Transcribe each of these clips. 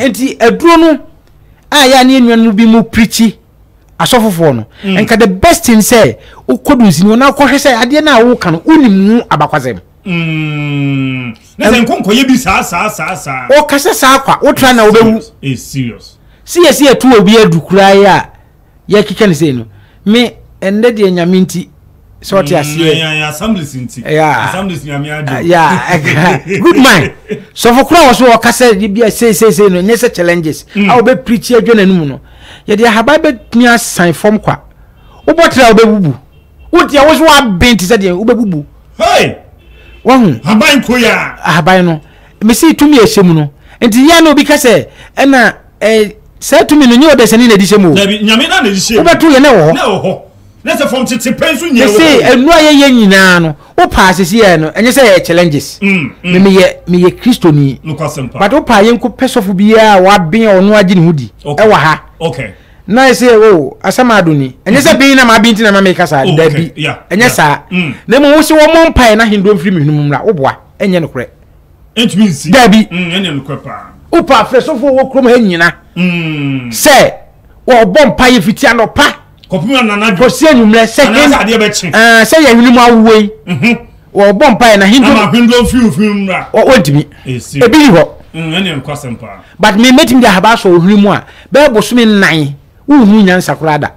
nti aduro no a yɛ a ne anuanom bi mu pirikyi asɔfofoɔ no mm. nka the best thing sɛ wokɔdu nsini hɔ na wokɔhwɛ sɛ adeɛ no a woka no wonim mu abakwasɛm mm. na sɛ nkɔnkɔyɛ bi saa saa saa saa ɔkasa saa kwa wotra na wobɛwu siyɛsi ɛto obi adu koraa yi a yɛkeka ne sei no me ɛnnɛ deɛ nyame nti sɛ ɔte mm, aseɛ assemblies nti assemblies nyame agye ya good man sɔfo kora wɔ so ɔka sɛ de bia sei sei sei no nyɛ sɛ challenges mm. a wɔbɛ preach adwa n'anim no yɛde ahaban bɛtumi asan fam kwa wobɔ tra wobɛbubu wo deɛ wo so waben te sɛ deɛ wobɛbubu wahu haban koya ahaban no mesi tumi a ɛhyɛ mu no nti yɛ na obi ka sɛ ɛna eh, saa tumi no nyɛ ɔdɛsɛne na ɛdi hyɛ mu wobɛto yɛ na ɛwɔ hɔ na sɛ fam tete pɛn so nyɛ sɛ ɛnu a yɛyɛ nyinaa no wo paa sisi yɛ no ɛnyɛ sɛ yɛ challenges mm, mm. me meyɛ meyɛ kristoni but wo paa yɛnkɔ pɛ sɔfo biara a waben ɔno agye ne ho di ɛwɔ ha na ayɛ sɛ o asɛm ado ni ɛnyɛ sɛ ben na maa bi nti na ma meka saa oh, dabi ɛnyɛ saa mm. na mmom wo sɛ wɔmmɔ mpaeɛ na ahendoɔ mfiri me hwene mu mmra woboa ɛnyɛ nokorɛ dabi mm, wopa afrɛsofoɔ wɔ kurom ha nyina mm. sɛ wɔbɔ mpaeɛ fiti anɔpa kɔsi anwummerɛ sɛ yɛhwene mu awoɔ yi mhm. wɔbɔ mpaeɛ na hindom ama hindom mfimfini mmra wɔntumi ebi yi hɔ ɛne nkwasɛm paa but me mɛtumi de ahaba asɔ ohwene mu a bɛyɛ bosome nnan wohu nyansa koraa da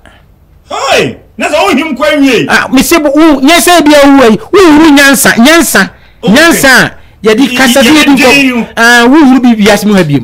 hei na sɛ wohim kɔ awie ah, mese nyɛ sɛ bia wowu ayi wohuru nyansa nyansa nyansa a yɛde kasa bi yɛdi nkɔ wohuru bi wiase mu ha biom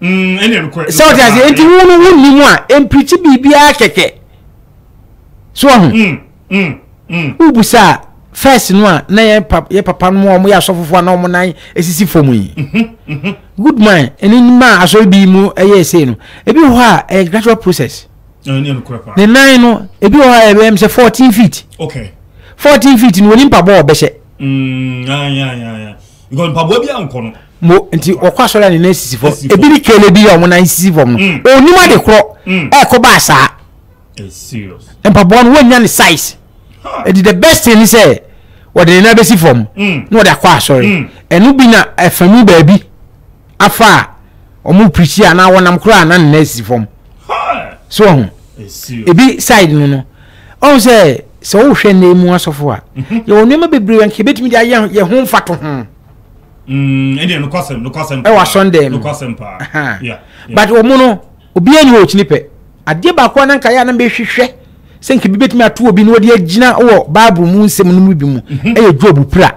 Mm, ɛnyɛ nokorɛ. Sɛ ɔte ase, nti wo no wo nni mu a, mpirikyi biribiara kɛkɛ. So ɔho. Mm, mm, mm. Wobusa a, first no a na yɛ papa yɛ papa no a wɔyɛ asɔfofo a na wɔn nan esisi fam yi. Mhm, mhm. Good man, ɛne mmaa asɔre bi mu ɛyɛ ɛsɛ no. Ebi wɔ hɔ a ɛyɛ gradual process. Ɛnyɛ nokorɛ paa. Ne nan no, ebi wɔ hɔ a ɛbɛyɛ sɛ fourteen feet. Okay. Fourteen feet no wɔn nipa bɔ ɔbɛhyɛ. Mm, ya ya ya ya. Because mpaboa bi ankɔ no. mo nti ɔkɔ asɔre a ne nan sisi fam ebi ne kele bi a wɔn nan sisi fam no mm. onim ade korɔ mm. ɛkɔ ba asaa mpaboa no wɔnya ne size ɛdi the best thing ni sɛ wɔde ne nan bɛsi fam mm. na wɔde akɔ asɔre ɛno bi na ɛfami baabi afa a wɔn pirikyi a na wɔnam korɔ a na ne nan sisi fam so ɔho ebi side no no ɔho sɛ sɛ wɔhwɛ ne mu asɔfo a mhm. yɛwɔ nneɛma bebree nka ebetumi de ayɛ yɛ ho mfato ho. Mm, ɛdeɛ nokwasɛm nokwasɛm. Ɛwɔ asɔndɛn mu. Nokwasɛm paa. Aha. Yeah. yeah. But wɔn no obiara ni hɔ ɔkyini pɛ. Adeɛ baako a nanka yɛ a na mehwehwɛ sɛ nka bi betumi ato obi na ɔde agyina wɔ Bible mu nsɛm no mu bi mu mhm. ɛyɛ Job pira.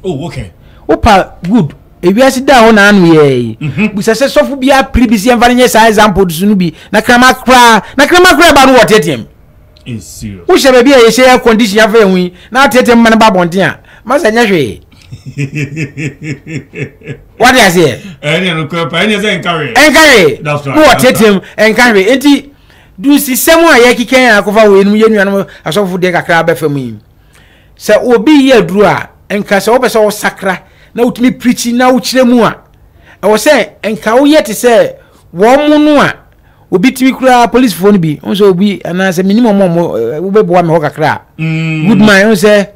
Oh okay. Opa good ewiase da hɔ na ano yɛ yi mhm. bisa sɛ sɔfo bi apiri bi si ɛnfa ne nyɛ saa example so no bi na krama koraa na krama koraa ba no wɔ teteam. Wohyɛ baabi a yɛhyɛ air condition afɛ yɛn ho yi na ateetee mma no ba abɔnten a masa nyɛ hwee wade aseɛ ɛnkahwee na wɔteetee mu ɛnkahwee nti dusisɛm a yɛkekɛn a akɔfa wɔ yɛnum yɛ nuanom asɔfo deɛ kakra bɛfa mu yi sɛ obi yɛ aduru a nka sɛ wopɛ sɛ wosakra na wotumi pirikyi na wokyerɛ mu a ɛwɔ sɛ nka woyɛ te sɛ wɔn mo no a obi tumi koraa polisifo no bi n sɛ obi anaasɛ menim ɔmɔ ɔmɔ wobɛboa me hɔ kakra a mm. good man n sɛ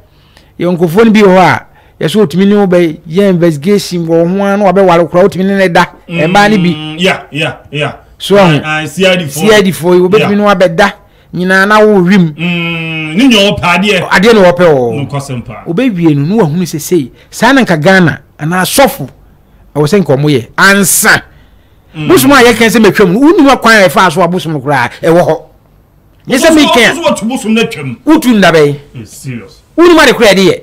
yɛ nkurɔfoɔ no bi wɔ hɔ a yɛsɛ ɔtumi ne wo bɛ yɛ investigation wɔ ho a na wabɛware koraa wotumi ne no da ɛmaa no bi mm, so ahu cid foɔ yi wobɛtumi ne wabɛda nyinaa na wo wim mm, adeɛ na wɔpɛ ɔ wobɛwie no na wahunu sɛ sei saa na nka ghana anaa sɔfo ɛwɔ sɛ nka ɔmo yɛ ansa mm. bosom a yɛka sɛ matwam no wonim akwan a ɛfaa so a bosom no koraa ɛwɔ hɔ nyɛ sɛ meka wotu nna bɛn wonim ade koraa ɛde yɛ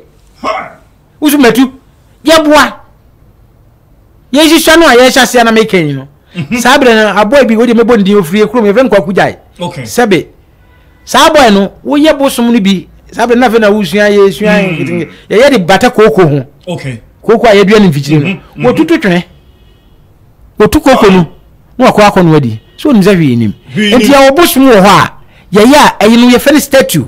woso matu yɛboa yɛnhyehyɛ no a yɛhyɛ aseɛ na meka yi no mm-hmm. saa berɛ no aboa bi wode mɛbɔ ndin ɔfirie kurom yɛfrɛ nkwaku gyae sɛbe saa boy no woyɛ bosom no bi saa bɛ no afei na wosua yɛ sua mm. nketenkete yɛyɛ de bata kooko ho okay. kooko a yɛdua no mfikyiri no mm-hmm. wɔtutu mm-hmm. twene wɔtu kooko no na wakɔ akɔ no adi so onim sɛ hwee nim nti yɛwɔ bosom wɔ hɔ a yɛyɛ a ɛyi no yɛfɛ no statue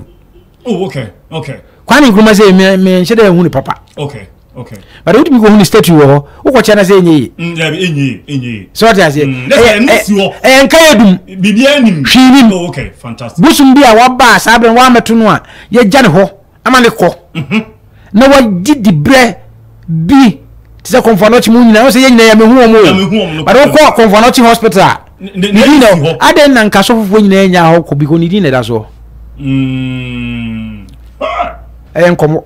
Oh, okay, okay. Kwame Nkrumah sɛ me me nhyɛ dɛ ehu ne papa. Okay, okay. But wotumi kɔ hu ne statue wɔ hɔ, wokɔkyɛ na sɛ enye ye. Mm, yeah, enye ye, enye ye. So what ase? Mm, that's eh, eh, si hɔ. Eh, nka ye dum. Bibi anim. Hwi nim. Oh, okay, fantastic. Busum bi a waba saa bɛn wa meto no a, ye gya ne hɔ, ama ne kɔ. Mhm. na wɔgye dibrɛ bi te sɛ kɔnfɔnɔkye mu nyinaa sɛ yɛn nyinaa yɛmɛ hu wɔn o bade wokɔ kɔnfɔnɔkye hospital a ne din na adɛn na nka sɔfofoɔ nyinaa nya hɔ kɔ biko ne din na ɛda soɔ ɛyɛ nkɔmɔ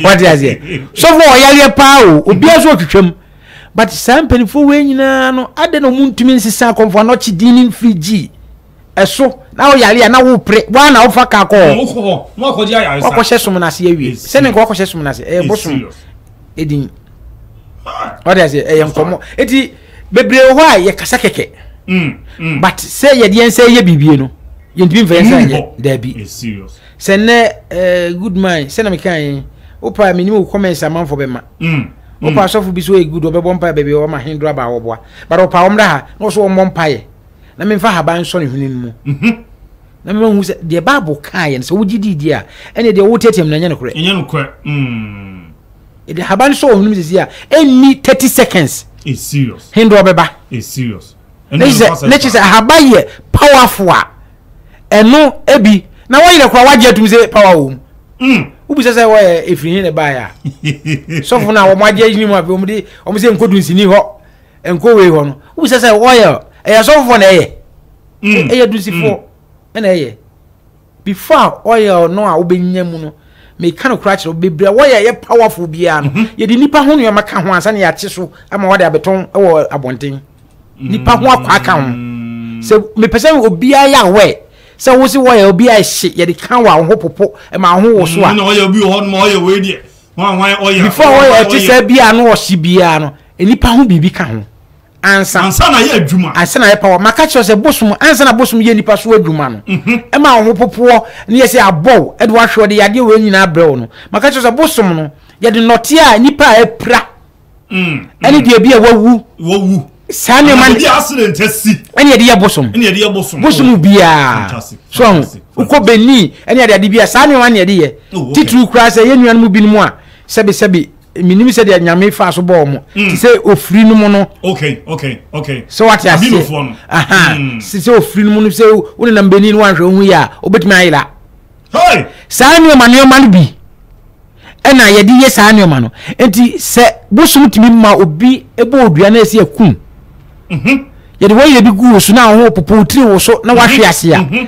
wate aseɛ sɔfoɔ ɔyareɛ paa o obiara so ɔtwitwam but saa mpanimfoɔ wei nyinaa no adɛn na ɔmu ntumi nsesa kɔnfɔnɔkye din ne mfiri gyii ɛso na woyare a na wopere woa na wofa ka kɔ wakɔhyɛ som no ase awie sɛ ne nka wakɔhyɛ som no ase ɛyɛ bosom ɛdin ɔde ase ɛyɛ nkɔmmɔ ɛti bebree wɔ hɔ a yɛkasa kɛkɛ mm, mm. but sɛ yɛde yɛn sɛ yɛ biribie no yɛntumi mfa yɛn sɛ yɛ daabi sɛ nnɛ eh, good man sɛ na meka yɛn wopa menim wo comments amanfo bɛma mm, wopa asɔfo bi so yɛ good ɔbɛbɔ mpae baabi ɔma hendro aba wɔboa but ɔpa wɔmmra ha na ɔso wɔmmɔ mpaeɛ na memfa ahaban nsɔ ne hwene no mu mhm. na mema hu sɛ deɛ bible kaa yɛ no sɛ wogye dii deɛ a ɛne deɛ woteateam no ɛnyɛ nokorɛ ɛnyɛ nokorɛ mm. ɛde ahaban no sɔ wɔ hwene mu sɛsi a ɛnni 30 seconds hendɔ bɛba ne kye sɛ ahaba yɛ powerful a ɛno ebi na wɔyerɛ kora wagye atum sɛ power wɔ mu mm. wobisa sɛ wɔyɛ ɛfiri he ne baeɛ a sɔfo no a wɔmagye agyini mu afei wɔmde wɔm sɛ nkɔdu nsini hɔ ɛnkɔ wei hɔ no wohu sɛ sɛ wɔyɛ ɛyɛ asɔfofoɔ na ɛyɛ mm. ɛyɛ dusifoɔ mm. ɛna ɛyɛ before a oil no a wobɛnya mu no meka no kora kyerɛ bebree a wɔyɛ ɛyɛ powerful biara no mhm. yɛde nipa ho nneɛma ka ho ansa na yɛakye so ama wɔde abɛtɔn wɔ abɔnten mm. nipa ho akwa ka ho sɛ mepɛ sɛ obiara yɛ awɛ sɛ wo se wɔyɛ obiara hye yɛde ka wɔ ahoho popo ma ahoho wɔ so a before wɔyɛ ɛte sɛ biara no ɔhye biara no Nnipa ho biribi ka ho ansa. Ansa na yɛ adwuma. Ansa na yɛ power. Maka kyerɛ sɛ bosom ansa na bosom yɛ nipa so adwuma no. Mhm. Ɛma wɔn ho popoɔ ne yɛ sɛ abɔw ɛde wahwɛ ɔde yadeɛ wɔ nyinaa abrɛ wɔn no. Maka kyerɛ sɛ bosom no yɛde nɔteɛ a nipa a apira. Mm. Ɛne mm. deɛ bi a wawu. Wawu. Saa nneɛma. Ɛna yɛde accident asi. Ɛne yɛde yɛ bosom. Ɛne yɛde yɛ bosom. Bosom oh. biara. So ho. Wokɔ Benin ɛne yɛde ade biara saa nneɛma ne yɛde yɛ. Oh, Titiri kura sɛ yɛn nuanom binom a sɛbisɛbi menim sɛ deɛ nyame fa so bɔɔ mo mm. te sɛ ofiri no mu no sɛ wate aseɛ mm. sɛ ofiri no mu no sɛ wone nam bɛni no wanhwɛ wohu yɛ a wobɛtumi ayera saa nneɔma nneɔma no bi ɛna yɛde yɛ saa nneɔma no nti sɛ bosom tumi ma obi bɔ odua no ɛsi akum mhm. yɛde wɔyɛ bi gu wo so na wo ho popo tiri wo so na wahwe mhm. ase a mhm.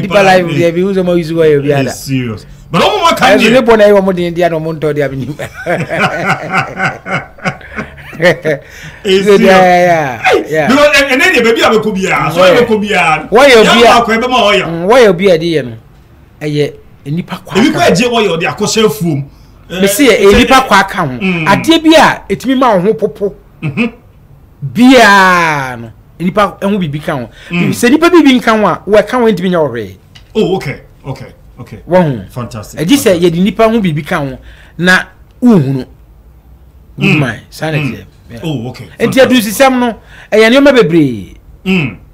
deeper life deɛ mehu sɛ mayi so wayɛ obiada ɛso ne bɔ na ɛyɛ ɔmo den deɛ na ɔmo ntɔ deɛ menim wɔyɛ obi a ɛde yɛ no ɛyɛ nipa kwa ebi kura gye wɔyɛ ɔde akɔhyɛ fuom mesi yɛ nipa kwa ka ho adeɛ bi a etimi ma ɔho popo biara no nipa ho biribi ka ho mm. sɛ nipa biribi nka ho a wɔka ho ntumi nya wɔ hwee oh okay okay okay wɔho fantastic ɛgye sɛ yɛde nipa ho biribi ka ho na wohunu woman mm. saa na mm. ɛteɛ oh okay nti adurusisɛm no ɛyɛ nneɛma bebree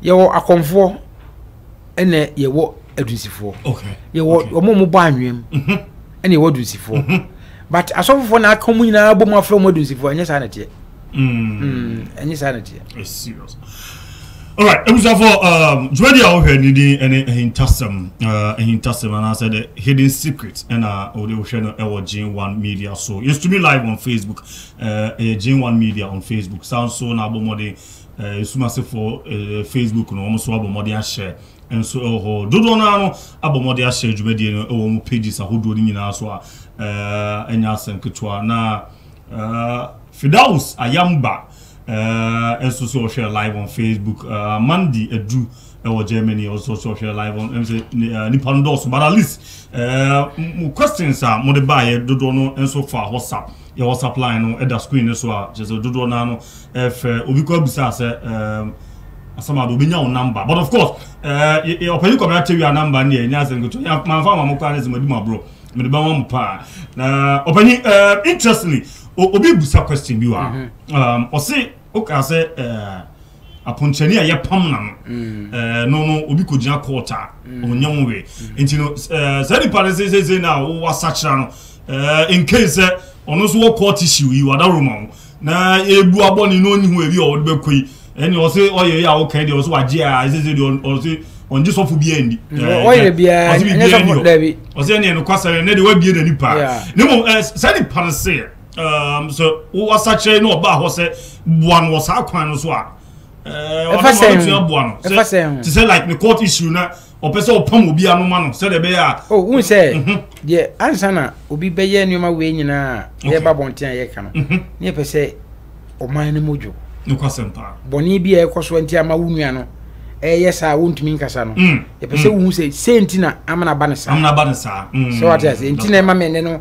yɛwɔ akɔmfoɔ ɛna yɛwɔ adunsifoɔ yɛwɔ wɔn a wɔbɔ anwem mhm. ɛna yɛwɔ adunsifoɔ mhm. but asɔfofoɔ na aka mu nyinaa bɔ mu afrɛ wɔn adunsifoɔ ɛnyɛ saa na teɛ mm. mm, ɛnyɛ saa na teɛ. alright ebusuafo um, dwumadi a wohwɛ ne din ne ahintasɛm uh, ahintasɛm anaasɛ the hidden secret ɛna wode wohwɛ no ɛwɔ jane one media so yɛstumi live on facebook uh, ɛyɛ jane one media on facebook saa nso na abɔ mmɔden Asumasefo Facebook no, wɔn nso abɔ mmɔden ahyɛ nso wɔ hɔ. Dodoɔ no ara no abɔ mmɔden ahyɛ dwumadie no wɔ wɔn pages ahodoɔ no nyinaa so a ɛnyɛ asɛm ketewa. Na Fidaus Ayamba nso so ɔhwɛ live on Facebook. Mandy Adu ɛwɔ germany ɔsɛ ɔsɛ ɔhwɛ live on ɛm sɛ nipa no dɔɔso but at least ɛɛ mo questions a mo de ba yɛ dodoɔ no nso fa whatsapp yɛ whatsapp line no ɛda screen no so a kyerɛ sɛ dodoɔ naa no ɛfɛ obi kɔ abisa sɛ ɛɛ asamado obi nya wo number but of course ɛɛ ɔpɛni kɔmi atɛwi a number no yɛ nya asɛm kutu yɛ maa nfa maa mo kɔ anɛ sɛ mo di mo aborɔ mo de ba wɔn mo paa na ɔpɛni ɛɛ interestingly obi bisa question bi wa ɔsi ɔka sɛ ɛɛ. aponkyerɛni a yɛpam na no ɛɛ no no obi kɔ gyina court a ɔnyɛ ho wɛ nti no ɛɛ saa nipa no sɛ sɛ sɛ na wɔwɔ asakyera no ɛɛ in case sɛ ɔno nso wɔ court issue yi wadaworo ma ho na ebu abɔ ne na ɔnyi ho ebi a ɔde bɛkɔ yi ɛne ɔse ɔyɛ yi a ɔkɛn deɛ ɔse wagye a ɛsɛ sɛ deɛ ɔse ɔngye sɔfo bi ɛndi ɔyɛ biara ɛnyɛ sɔfo dabi ɔse ɛne ɛno kwasa ne deɛ wabie n'ani paa ne mo ɛɛ saa nipa no se um, sɛ wowɔ asakyerɛ ne ɔbaa hɔ sɛ boa no wɔ saa kwan no so a ɔbɛtumi aboa no te sɛ like ne court issue na ɔpɛ sɛ ɔpam obi anoma no sɛdeɛ ɛbɛyɛ a oh, wohu sɛ mhm. deɛ ansa na obi bɛyɛ nneɛma wei nyinaa yɛba bɔnten a yɛka no mhm. ne yɛpɛ sɛ ɔman no mu dwo bɔne bi a ɛkɔ so nti ama wo nua no ɛyɛ saa wontumi nkasa no mm. yɛpɛ sɛ mm. wohu sɛ sɛ nti na amana ba no saa sɛ wate ase nti na ɛma mene no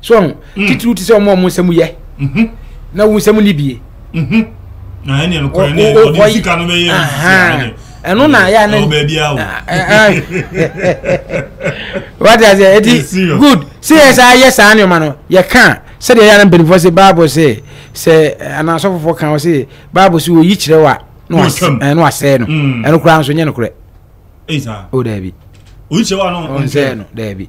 so ɔho mm. titiriw te sɛ ɔmo ɔmo nsɛm yɛ mm-hmm. na wo nsɛm ni bie mm-hmm. ɛno na yɛ ne wate aseɛ ɛti good sɛ yɛ saa yɛ saa nneɛma no yɛka sɛdeɛ yɛ ana mpanimfoɔ sɛ bible sɛ sɛ anaasɔfofoɔ ka wɔ sɛ bible sɛ wɔyi kyerɛ wa na wasɛe no mm. ɛno koraa nso nyɛ nokorɛ o daabi ɔnsɛe no daabi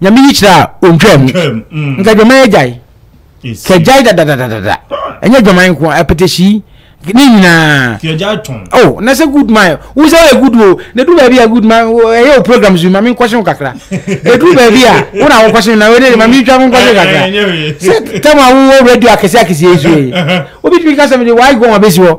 nyame yi kyerɛ a ɔntwaa mu nka adwaman agyae kagyae dadadadada ɛnyɛ adwaman nko a apɛtɛhyii ne nyinaa oh na sɛ good man wo sɛ woyɛ good o na ɛduru baabi a good man ɛyɛ wo programs bi ma menkɔhye wo kakra ɛduru baabi a wo na wokɔhye no na wode ma mentwa menkɔhye kakra sɛ tam a wowɔ radio akɛseɛ akɛseɛ yi so yi wobɛtumi ka sɛ mede waagɔn abɛsi hɔ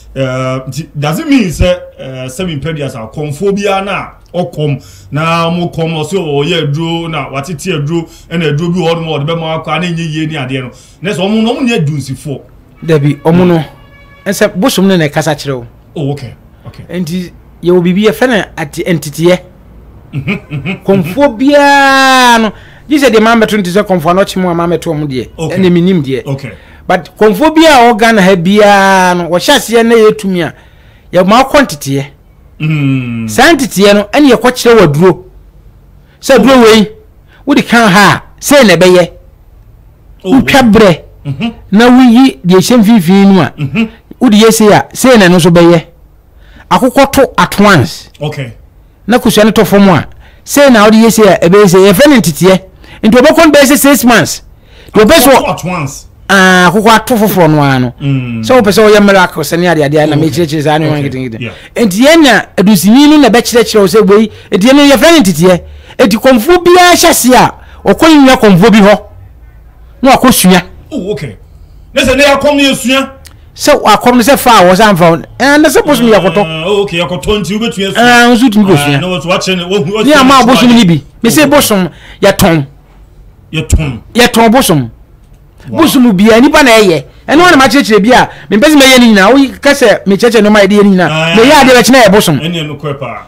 Uh, does it mean sɛ uh, sɛbi mpɛduasa kɔmfoɔ biara na ɔkɔm na wɔn kɔm ɔsɛ ɔyɛ aduro na watete aduro ɛna aduro bi wɔ hɔ nom a ɔde bɛma akɔ a na enye yie ne adeɛ no na sɛ wɔn na wɔn nyɛ dunsifoɔ. dabi wɔn no ɛsɛ bosom no na ɛkasa kyerɛ o. oh okay okay. nti yɛ wɔ biribi yɛfɛ na ati nteteɛ mhm, mhm. kɔmfoɔ biara no gye sɛ deɛ maa mɛto nti sɛ kɔmfoɔ anɔkye mu a maa mɛto wɔn deɛ ɛna mi nim deɛ. okay. But kɔmfoɔ biaa a ɔwɔ Ghana ha biaa no wɔhyɛ aseɛ na yɛ tumi a yɛ ma ɔkɔ nteteɛ saa nteteɛ no ɛne yɛkɔ kyerɛ wɔ aduro sɛ aduro wei wode ka ha a sɛ na ɛbɛyɛ wotwa berɛ na woyi deɛ ɛhyɛ mfimfini no a wode yɛ sei a sɛ na ɛno nso bɛyɛ akokɔ to at once okay. na kosua no tɔ fam a sei na ɔde yɛ sei a ɛbɛyɛ sei yɛfrɛ no nteteɛ nti ɔbɛkɔ no bɛyɛ sɛ six months deɛ ɔpɛ so ah, akokɔ ato foforɔ no ara no mm. sɛ wopɛ sɛ woyɛ miracle sɛ ne adeadeɛ na mekyerɛkyerɛ saa ne nketenkete nti yɛnya adusinyi no na ɛbɛkyerɛkyerɛ wo sɛ wei ɛti ɛno yɛfrɛ no nteteɛ ɛti kɔmfoɔ biara hyɛ se a ɔkɔ yi nwa kɔmfoɔ bi hɔ na wakɔsua oh, ne sɛ ne yɛakɔm ne yɛsua sɛ wakɔm no sɛ fa a wɔsɛ amfa wo ɛɛ na sɛ bosom yɛ kɔtɔ ah, ok ɛkɔtɔ nti wobɛtumi asua ɛɛ ah, nso tumi kɔ sua ah, ne ama bosom no bi mese bosom yɛtɔn yɛtɔn yɛtɔn bosom bosom bia nipa na ɛyɛ ɛno wana makyerɛkyerɛ bi a mempɛ sɛ mɛyɛ no nyinaa woka sɛ mekyerɛkyerɛ nɔma yɛde yɛ no nyinaa meyɛ adeɛ bɛkyena yɛ bosom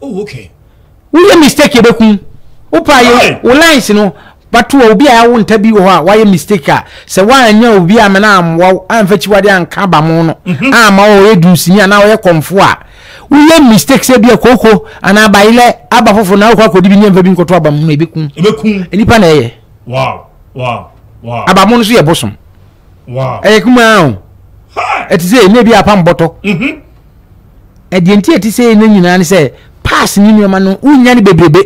Oh okay. Wo yɛ mistake yɛ bɛ kun. Wo pa yɛ wo lines no bato wɔ obi a yɛawo nta bi wɔ hɔ a wayɛ mistake a sɛ woanyɛ obi a mena ammoa wo amfa kyiwade anka aba mo no mhm. ama ɔyɛ dunsini anaa ɔyɛ kɔmfo a woyɛ mistake sɛ bia kooko anaa bayelɛ aba foforo na wokɔ akɔdi bi ne amfa bi nkɔto aba mo no ɛbɛku nnipa na ɛyɛ aba mo no so yɛ bosom ɛyɛ kumaa o ɛte sɛ ɛnɛ bi apam bɔtɔ mhm. ɛdeɛ nti ɛte sɛ ɛno nyinaa ne sɛ pass ne nneɛma no wonya no bebrebe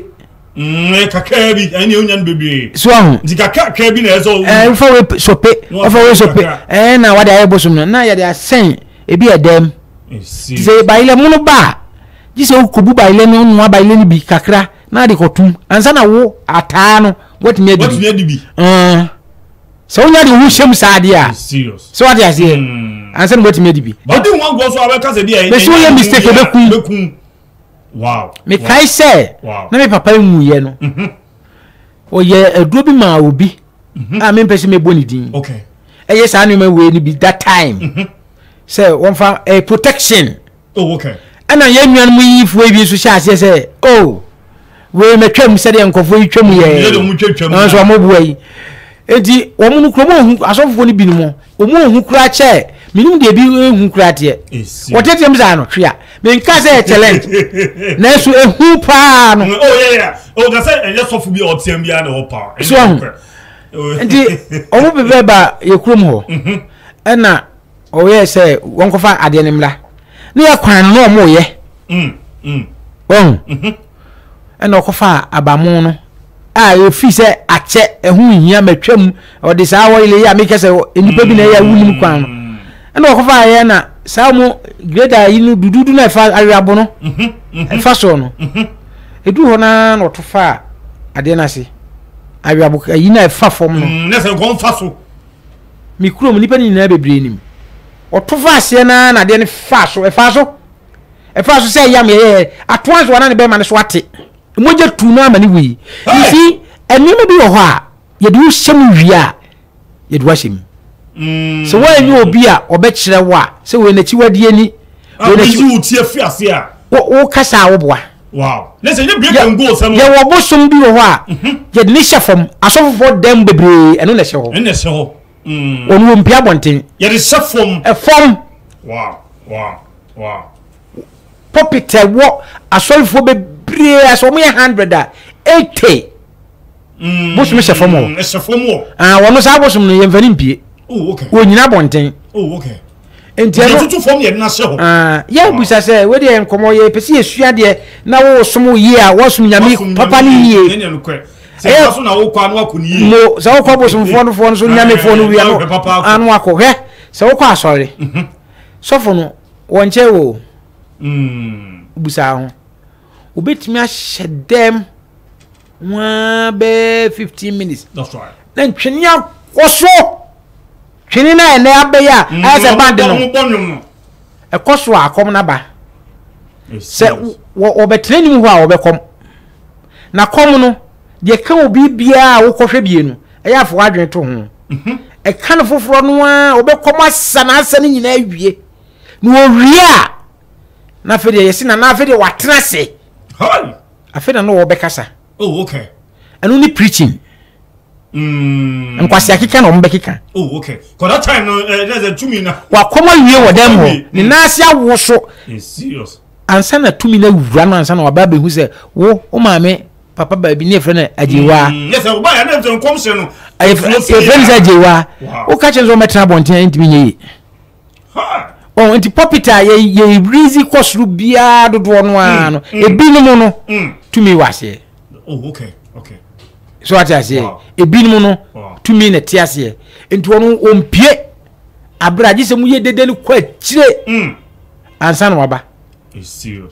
mm, kakraa bi ɛne wonya no bebree so aho nti kakrakra bi na ɛsɛ wo eh, wofa wei sope wofa wei sope ɛɛ eh, na wade ayɛ bosom no na yɛde asɛn ebi ɛdɛm sɛ bayilɛ mono ba a gye sɛ wokɔbu bayilɛ no noa bayilɛ no bi kakra na ade kɔtom ansa na wo ataa no woatumi adi bi sɛ wonya de wo ho hyɛ mu saa adeɛ a sɛ wate aseɛ hmm. ansa na moatumi adi bi mɛsɛ woyɛ mistake bɛkum mekae sɛ na me papa nwuyɛ no mhm. ɔyɛ aduro bi maa obi mhm. a mempɛ sɛ mɛbɔ ne din ɛyɛ saa nneɛma wei no bi that time mhm. sɛ wɔmfa eh, protection Ɛna yɛn nuanom yiyifoɔ yi bi nso hyɛ aseɛ sɛ, o, oh, wei mɛtwam sɛdeɛ nkɔfoɔ yi twam yɛɛ, nanso wɔn boa yi. Eti wɔn no kurom ohu asɔfofoɔ no binom wɔn ohu kura kyɛ menim deɛ bi ehu kura teɛ. Wɔtete mu saa no hwɛ a menka sɛ yɛ challenge nanso ehu paa no. O yɛ yɛ o ka sɛ ɛnyɛ sɔfo bi a ɔteɛ bi a na ɛwɔ paa. So ahu nti wɔn bɛbɛ ba yɛ kurom hɔ ɛna. Wɔyɛɛ sɛ wɔnkɔfa adeɛ no mmra ne yɛ kwan no na wɔyɛ wahu ɛna ɔkɔfa abamu no a efi sɛ akyɛ ɛho nhia matwam ɔde saa wɔyele yi a mekɛ sɛ nnipa bi na ɛyɛ wonim kwan no ɛna ɔkɔfa ayɛ na saa mu greda yi no dududu na ɛfa awerabo no ɛfa soɔ no ɛduru hɔ naa na ɔto fa adeɛ no ase awerabo ayi na ɛfa fam no na sɛ nkɔmfa so me kurom nnipa no nyinaa bebree nim. Wɔto faa aseɛ no ara na adeɛ no faa so. Ɛfaa so. Ɛfaa so sɛ yam yɛyɛɛ atoa nso ana ne bɛrima no so ate. Mogya tuu no ama ne wui. You see, nneɛma bi wɔ hɔ a yɛde wo hyɛ mu wie a, yɛde wo ahyɛ mu. Mm. Sɛ woanyɛ obi a ɔbɛkyerɛ wo a sɛ wei n'akyiwadeɛ ni. Ah, wei n'akyi- Wo kasa a woboa. Wow. Ne sɛ nye break and go sɛm. Yɛ wɔ bosom bi wɔ hɔ a. Mhm. Yɛ de ne hyɛ fam. Asɔfofo dan bebree ɛno na ɛhyɛ hɔ. Ɛna ɛhyɛ hɔ. Mm. Wɔn wɔ mpia abɔnten. Yɛ de hyɛ fam. Ɛfam. Wow. Wow. Wow. Pulpit ɛwɔ asɔfofo bebree a sɛ wɔn yɛ hundred a eighty. mm, bosom hyɛ fam hɔ ɛhyɛ fam hɔ ah wɔn saa bosom no yɛmfa ne mpie oh okay wɔnyina abɔnten oh okay nti ɛno tutu fam yɛ nna hyɛ hɔ ah yɛ bisa sɛ wei deɛ nkɔmɔ yɛ pɛ sɛ yɛsua deɛ na wɔsom yie a wɔsom nyame papa ne yie ɛyɛ so na wokɔ ano akɔ ne yie mo sɛ wokɔ bosomfoɔ no foɔ no so nyamefoɔ no wia no ano akɔ hwɛ sɛ wokɔ asɔre mhm. sɔfo no wɔnkyɛ wo mm. busaa ho wobɛtumi ahyɛ dɛm Ho ara bɛyɛ fifteen minutes. That's right. Na ntwene akɔ so. Twene no a ɛnɛ abɛyɛ a mm, ayɛ sɛ band no. Ɛkɔ so a akɔm no aba. Sɛ wɔbɛtena anim hɔ a wɔbɛkɔm. Na kɔm no deɛ ka obi biara a wokɔhwɛ bie no ɛyɛ afɔ adwene to ho. Mhm. Ɛka no foforɔ no a wɔbɛkɔm asa na asa no nyinaa awie. Na wɔwie a na afei deɛ yɛsi na na afei deɛ wɔatena ase. Afei na na wɔbɛkasa. Oh, okay. Ɛno ne preaching. Mm. Nkwasi akeka na wɔn bɛkeka. Oh, okay. Kɔ that time no, eh, that's a tumi na. Wakɔma wie wɔ dɛm hɔ. Mm. Ne nan ase awo so. It's serious. Ansa na tumi na wura no ansa na waba abɛhu sɛ wo wo maame papa baabi ne efrɛ no agyewa. Mm. Yes, ɔba yɛ ne ntɛn kɔm hyɛ no. Efrɛ no sɛ agyewa. Woka kyerɛ sɛ wɔn bɛtena abɔnten ntumi nye yi. ɔn nti pulpit a yɛ yɛ release kɔ soro biara dodoɔ no ara no mm, mm. ebinom no mm. tumi wɔ aseɛ oh, so ate aseɛ ebinom no tumi na te aseɛ nti wɔn wɔmpie abira agye sɛ mo yɛ dede no kɔ akyire ansa na waba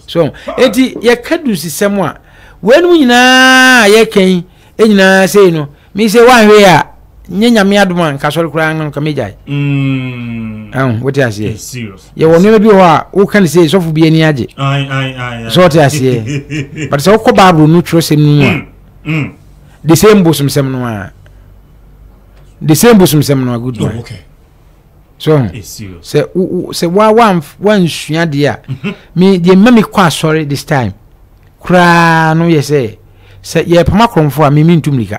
so eti yɛka du sisɛm a wɔn nyinaa yɛka yi. Enyina sei no, me se wanhwe a, nye nyame adom a nka sɔre koraa nka megyae. Mm. Ɛho, wote aseɛ. It's serious. Yɛwɔ It's nneɛma bi hɔ a, woka ne sei, sɔfo bi ani agye. Aye, aye, aye, aye. So wote aseɛ. But sɛ wokɔ Bible no twerɛsɛm no mu a, Mm, mm. the same bosomsɛm no a. The same bosomsɛm no a, good Oh, man. okay. so ho sɛ sɛ wa wa wansua deɛ a mhm. me deɛ mma me kɔ asɔre this time koraa no yɛ sɛ sɛ yɛ pama korɔmfo a mimi ntu mirika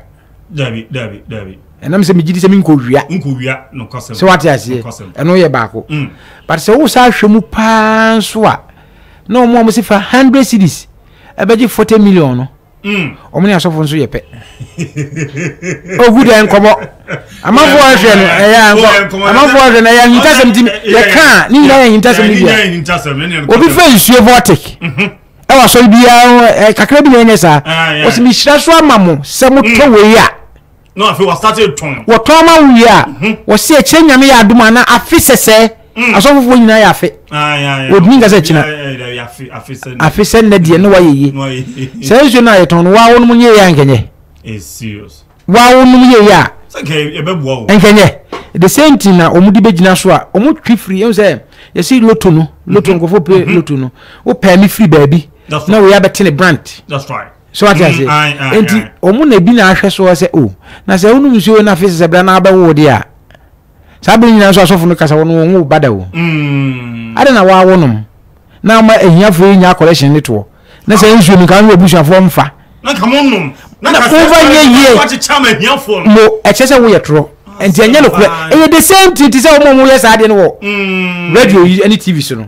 dabi dabi dabi ɛnam sɛ megye di sɛ menkɔ wia nkɔ wia nokɔsɛm sɛ wate aseɛ ɛno yɛ baako mm. but sɛ wo saa hwɛ mu paa nso a na wɔn a wɔsi fa hundred cities ɛbɛgye forty million no Wɔn ne asɔfo nso yɛ pɛ. Ogu dɛ nkɔmɔ. Amanfo a hwɛ no ɛyɛ ankɔ. Amanfo a hwɛ no ɛyɛ ahintasɛm ti yɛ kaa ne nyinaa yɛ ahintasɛm ne bia. Obi fɛ nsuo vortic. Ɛwɔ asɔre biara kakra bi na ɛnyɛ saa. Wɔsi mi hyira so ama mo sɛ mo tɔ wei a. na afei wɔasate tɔn. wɔtɔn ma wo wie a wɔse ɛkyerɛ nyame yɛ adom a na afe sɛsɛɛ asɔfofoɔ nyinaa yɛ afe wɔdini nka sɛ kyina afe sɛ nnɛ deɛ ne wayɛ ye saa nsuo no a yɛtɔn no waa wonom yɛyɛ a nkɛnyɛ waa wonom yɛyɛ a nkɛnyɛ the same thing na wɔn de bɛgyina so a wɔn twi firi ɛhu sɛ yɛsi loto no loto nkɔfo pe loto no wopɛ ne firi baabi na wɔyɛ abɛte ne branch so ate ase mm, nti wɔn na ebi na ahwɛ so sɛ o oh, na sɛ wonum nsuo na afei sɛ bere na abɛwo de a saa bere nyinaa nso asɔfo no kasa wɔn wɔn wo bada o mm. ada na wɔawo nom na ama ahiafo yi nya akɔlɛhyɛn ne toɔ na sɛ nsuo no kan wɔ abusuafoɔ mfa na ka mo nom na ka sɛ wɔakyekyɛ ama ahiafo no mo ɛkyɛ sɛ woyɛ torɔ ah, nti ɛnyɛ no korɛ ɛyɛ the same thing ti sɛ wɔn a wɔyɛ saa adeɛ no wɔ mm. radio yi ne tv so no.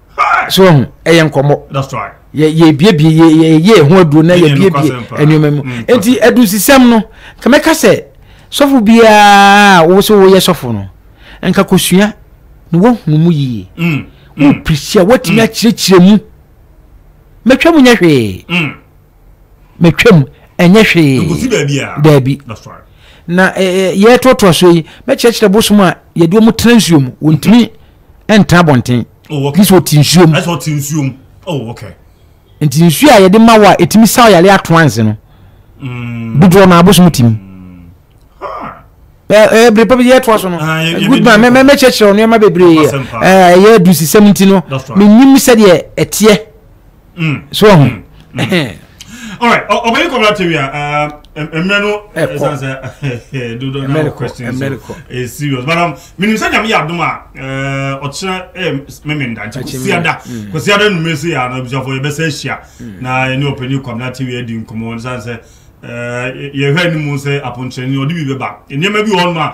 so ɔho ɛyɛ nkɔmmɔ yɛbiebie yɛyɛ ɛho aduro na yɛbiebie nneɛma mu mm, nti adusisɛm no ka mɛka sɛ sɔfo biara wo sɛ woyɛ sɔfo no nka kɔsua na woahunu mu yie mm, mm. woprisia woatumi akyerɛkyerɛ mu mɛtwa mu nyɛ hwee mɛtwa mu ɛnyɛ hwee daabi na yɛtoatoa so yi mɛkyerɛkyerɛ bosom a yɛde ɔmo tena nsuo mu wɔntumi ɛntra abɔnten oh, bi sɛ ɔte nsuo mu ɛsɛ ɔte nsuo mu oh okay nti nsuo a yɛde ma wɔ a ɛtumi sa ɔyare ato anse no mm. dodoɔ no abosom tim mm. ɛbere pa bi yɛtoa so no ah, good man mɛkyerɛkyerɛ wo nneɛma bebree ɛyɛ adusisɛm nti no menim sɛdeɛ ɛteɛ Mm. So ɔho. Mm. Mm. All right. Obey Kobra TV. Mmerɛ no ɛsan sɛ dodo na wɔ question so ɛyɛ serious but um menim sɛ nyame yɛ adom a ɔkyerɛ meme ndankyɛ kɔsiada kɔsiada nnumere sɛ yɛ ana abusuafoɔ yɛbɛsɛ ahyia na ɛne ɔpɛni kwamena tv adi nkɔmmɔ ne sane sɛ yɛhwɛ anim sɛ aponkyerɛni ɔde bi bɛba nneɛma bi wɔ hɔnom a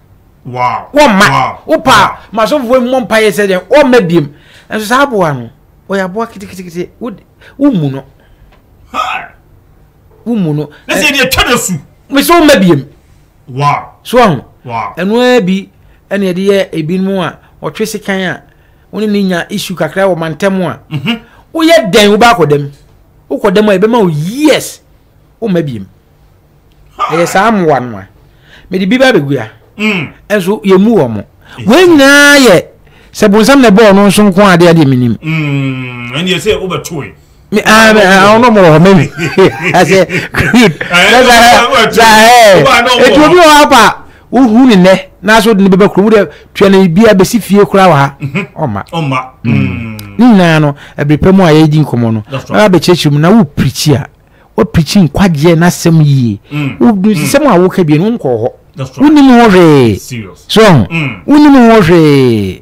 wɔmma wopa ma asɔfofoɔ mmɔ mpaeɛ sɛ deɛ wɔmma biem nso saa aboa no ɔyɛ aboa ketekete womu no womu no na sɛ deɛ twa da su mesɛ wɔmma biem so ahu ɛno ara bi ɛne ɛde yɛ ebinom a ɔtwe sekan a wone ne nya isu kakra wɔ mantam a mhm. woyɛ dɛn wobɛakɔ dɛm wokɔ dɛm a yɛbɛma wo years womma biem ɛyɛ saa mmoa no a mede bi ba bɛgu a ɛnso yɛmu wɔ mo wei nyinaa yɛ sɛ bonsam na ɛbɔɔ no nso nko adeɛ adeɛ menim ɛneɛ sɛ wobɛtoe ɔno mɔrɔ hɔ mɛwi ɛsɛ ɛti obi wɔ hɔ apa Wohu ne nnɛ n'asɛ wode ne bɛba kurom wode tua no biribiara bɛsi fie koraa wɔ ha mhm. ɔma ɔma mm. mm. ne nyinaa no ɛbere pɛ mu a yɛdi nkɔmmɔ no bɛba bɛkyerɛkyerɛ mu na wopirikyi a wopirikyi nkwagyeɛ n'asɛm yie mm. wodusisɛm a woka bie no wonkɔɔ hɔ wonim ho hwee so wonim ho hwee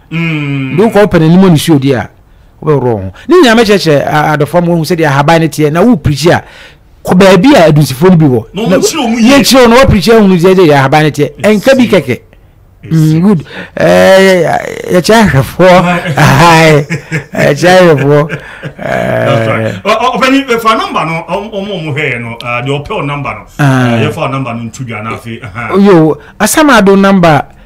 De wokɔ wopɛ no anim ne suo deɛ a, wobɛworɔ wo ho. Ne nyinaa mɛkyerɛkyerɛ adɔfoɔ ma wɔahu sɛdeɛ ahaban no teɛ na woprikyi a kɔ baabi a adunsifoɔ no bi wɔ. Yɛkyerɛ wo na woprikyi ahunu deɛ deɛ ahaban no teɛ. Ɛnka bi kɛkɛ. Mm, good. Yɛkyerɛ ahwɛfoɔ. Yɛkyerɛ ahwɛfoɔ. Ɔpɛni fɛ nɔmba no ɔmo ɔmo hwɛ yɛ no deɛ ɔpɛ ɔ nɔmba no yɛfa ɔ nɔmba no ntu dwa n'afe. Yo, asɛm ado nɔmba.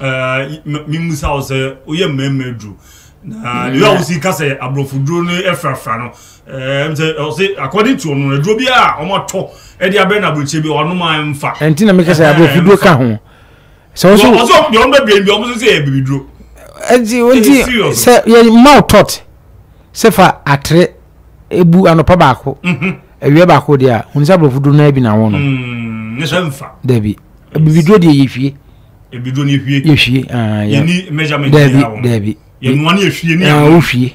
ɛɛ mimusa wo sɛ woyɛ mmarima aduru na deɛ a wosi ka sɛ aborɔfo duro no ɛfrafra no ɛɛ sɛ ɔse according to ɔno aduro bi a wɔatɔ ɛde abɛn na aburokyire bi ɔnom a ɛmfa ɛnti na meka sɛ aborɔfo duro ka ho sɛ ɔso ɔso deɛ ɔno bɛbɛn bi ɔmo sɛ sɛ ɛbibi duro ɛnti ɔnti sɛ yɛ ma wo tɔt sɛ fa atere ebu anɔpa baako mhm. awia baako deɛ a wɔn sɛ aborɔfo duro no bi na wɔn no mm, ne sɛ mfa dabi abibi duro deɛ yɛ fie yɛhwie daabi daabi wohwie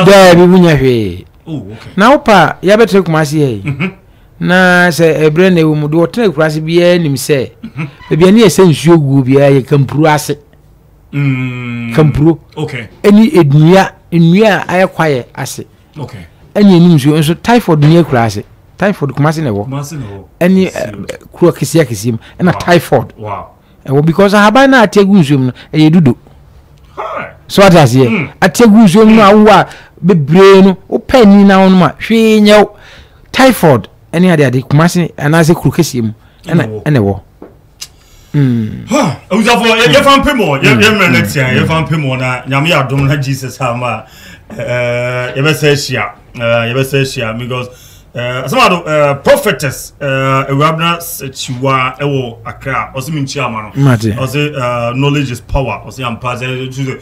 daabi wonya hwee na wopa a yɛbɛtena kuma ase yɛ mhm. na sɛ ɛberɛ na ɛwɔ mu deɛ ɔtena akura ase biara nim sɛ mhm. baabi ani ɛsɛ nsuo guo biara yɛ kampuro ase mm. kampuro ɛne nnua nnua a ayɛ kwaeɛ ase Okay. Ɛna ɛni nsuo nso typhoid ni akura ase typhoid kumase na ɛwɔ ɛni eh, kuro akisi akisi mu ɛna typhoid ɛwɔ because ahaban na ate egu nsuo mu no ɛyɛ dudo so ate aseɛ hmm. ate egu nsuo mu no awo a bebree no wopɛ ni na wɔn ma hwee nyɛw typhoid ɛni ade ade kumase anaasɛ kuro kɛseɛ mu ɛna ɛna ɛwɔ. Mm. Ha, abusafo yɛ yɛ fan pem o, yɛ yɛ mmerɛ ne tia yɛ fan pem o na nyame yɛ adom na Jesus ama ɛɛ yɛbɛsɛ ahyia ɛɛ yɛbɛsɛ ahyia because ɛɛ asɛm ado ɛɛ prophetess ɛɛ ewurabena kyiwa ɛwɔ akra ɔsi mi nkyia ama no Mate. ɔsi ɛɛ knowledge is power ɔsi ampa sɛ ɛɛ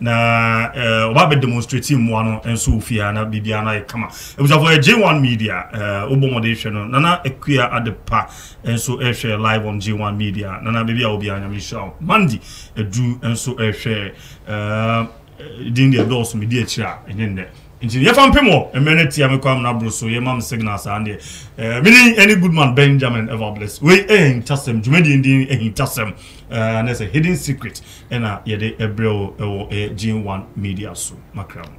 Na wɔba bɛ demonstrate mmoa no nso wɔ fie ha na biribiara no ayɛ kama. Abusuafo yɛ J1 Media, wobɔ mmɔden hwɛ no. Nana Akua Adepa nso rehwɛ live on J1 Media. Nana baabi a wɔ biara Nyame nhyira wo. Mandy Adu nso rehwɛ, din deɛ ɛdɔɔso medi akyire a ɛnyɛ nnɛ. Nti yɛfa mpem wɔ, mmerɛ no atia mekɔ amena boro so yɛma me signal saa ndeɛ. Me din ɛne Goodman Benjamin Evabless. Wei yɛ ahintasɛm, dwumadie no din ahintasɛm, ɛnɛ sɛ Hidden Secret. na yɛde brɛ wo wɔ ɛyɛ Gene One Media so. Makra mu.